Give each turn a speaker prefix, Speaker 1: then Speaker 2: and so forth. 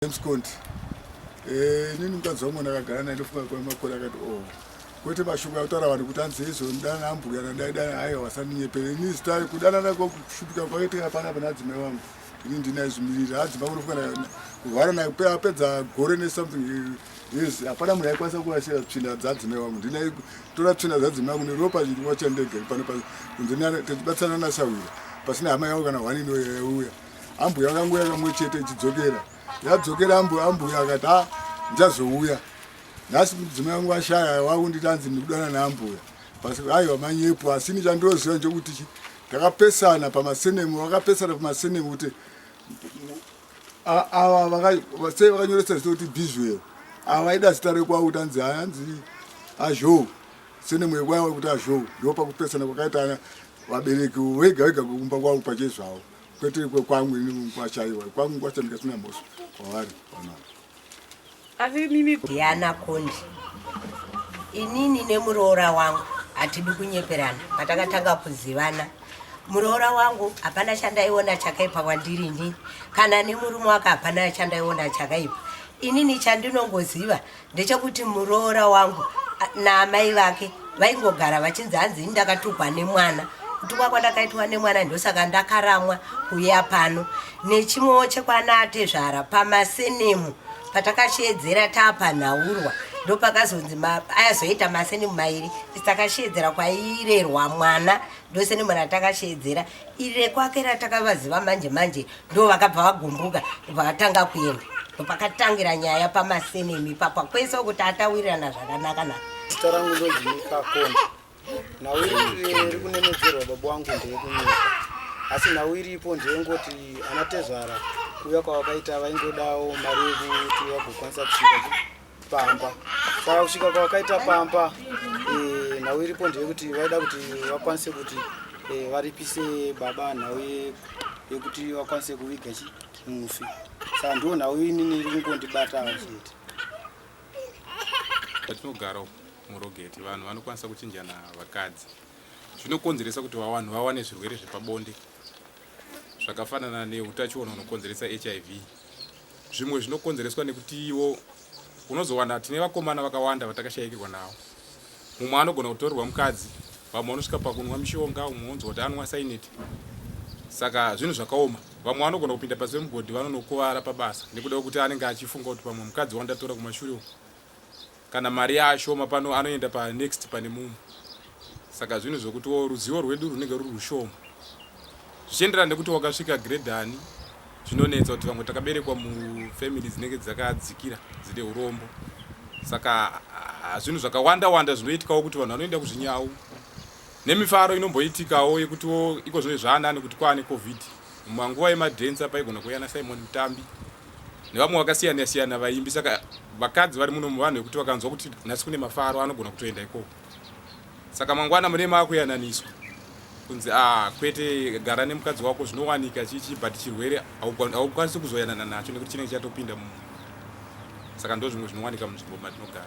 Speaker 1: James Conti eh, inini mukadzi wangu ndakagara naye ndofunga kwemakore akati o oh, kwete mashoko akutaura vanhu kuti anzi izvo ndana ambuya nandaidana hayi wasandinyepere ini zita kudanana kwakushupika kwakaitira pana pana adzimai wangu ini ndina izvimirira adzimai kunofunga kuvhara naye apedza gore nesomething yes hapana munhu aikwanisa kurashira tsvina dzadzimai wangu ndina tora tsvina dzadzimai wangu neropa chiriwa chandege pano pano kunzi tichibatsirana nasahwira pasina hama yangu kana hwanini yaiuya ambuya vakangouya kamwe chete ichidzokera yadzokera ambuya ambuya akati ha ndichazouya nhasi mudzimai vangu vashaya vakunditi hanzi ndikudana naambuya basi aiwa manyepo asi ini chandoziva nchokuti chi takapesana pamasenemu vakapesana pamasenemu kuti ava sei vakanyoresa zita kuti bizwero ava vaida zita rekwavo kuti hanzi hanzi azhou senemu yekwavo kuti azhou ndo pakupesana kwakaita vabereki vega vega kumba kwavo pachezvavo kwete kwekwangu ini kwashaiwa kwangu kwacho ndikasina mhosva kwavari vanavo
Speaker 2: asi mimi yana kondi inini nemuroora wangu hatidi kunyeperana patakatanga kuzivana muroora wangu hapana chandaiona chakaipa kwandiri ini kana nemurume wake hapana chandaiona chakaipa inini chandinongoziva ndechekuti muroora wangu naamai vake vaingogara vachinzi hanzi ini ndakatukwa nemwana kutukwa kwandakaitwa nemwana ndosaka ndakaramwa kuuya pano nechimwewo chekwanatezvara pamasenemu patakasheedzera taapanhaurwa ndopakazonzi ayazoita masenemu mairi takasheedzera kwairerwa mwana ndosenemu ratakasheedzera Iri rekwake ratakavaziva manje manje ndo vakabva vagumbuka vakatanga kuenda ndopakatangira nyaya pamasenemi papwa kwese kuti atawirirana zvakanaka naka zita rangu
Speaker 3: ndozimikakona nhau iri kunenedzerwa baba wangu ndeyekunyika asi nhau iripo ndeyengoti anatezvara kuuya kwavakaita vaingodawo mari yekuti vagokwanisa kusvika pamba saka kusvika kwavakaita pamba eh, nhau iripo ndeyekuti vaida kuti vakwanise kuti eh, varipise baba nhau yekuti vakwanise kuviga chi mufi saka ndiwo nhau inini iri kungondibatawo chete
Speaker 4: patinogara murogeti vanhu vanokwanisa kuchinjana vakadzi zvinokonzeresa kuti vanhu vawane zvirwere zvepabonde zvakafanana neutachiona unokonzeresa hiv Zvimwe zvinokonzereswa nekutiwo unozowana tine vakomana vakawanda vatakashayikirwa nawo. Mumwe anogona kutorerwa mukadzi, vamwe vanosvika pakunwa mishonga, umwe onzwa kuti anwa saineti. Saka zvinhu zvakaoma. Vamwe vanogona kupinda pasi pemugodhi vanonokuvara pabasa nekuda kwekuti anenge achifunga kuti pamwe mukadzi wandatora kumashure uko Kana mari yaashoma pano anoenda pa next pane mumwe. Saka zvinhu zvokutiwo ruzivo rwedu runenge ruri rushoma. Zvichienderana nekuti wakasvika grade ani zvinonetsa kuti vamwe takaberekwa mu family dzinenge dzakadzikira dzine urombo. Saka ah, zvinhu zvakawanda wanda zvinoitikawo kuti vanhu vanoenda kuzvinyawu. Nemifaro inomboitikawo yekutiwo iko zvino zvaanani kuti kwaane covid. Mumanguva yemadance apa aigona kuuya na Simon Mutambi. nevamwe vakasiyana siyana vaimbi saka vakadzi vari muno muvanhu vekuti vakanzwa kuti nhasi kune mafaro anogona kutoenda ikoko saka mangwana mune maakuyananiswa kunzi ah kwete gara nemukadzi wako zvinowanika chichi but chirwere haukwanisi kuzoyanana nacho nekuti chinenge chatopinda mu saka ndozvimwe zvinowanika munzvimbo matinogara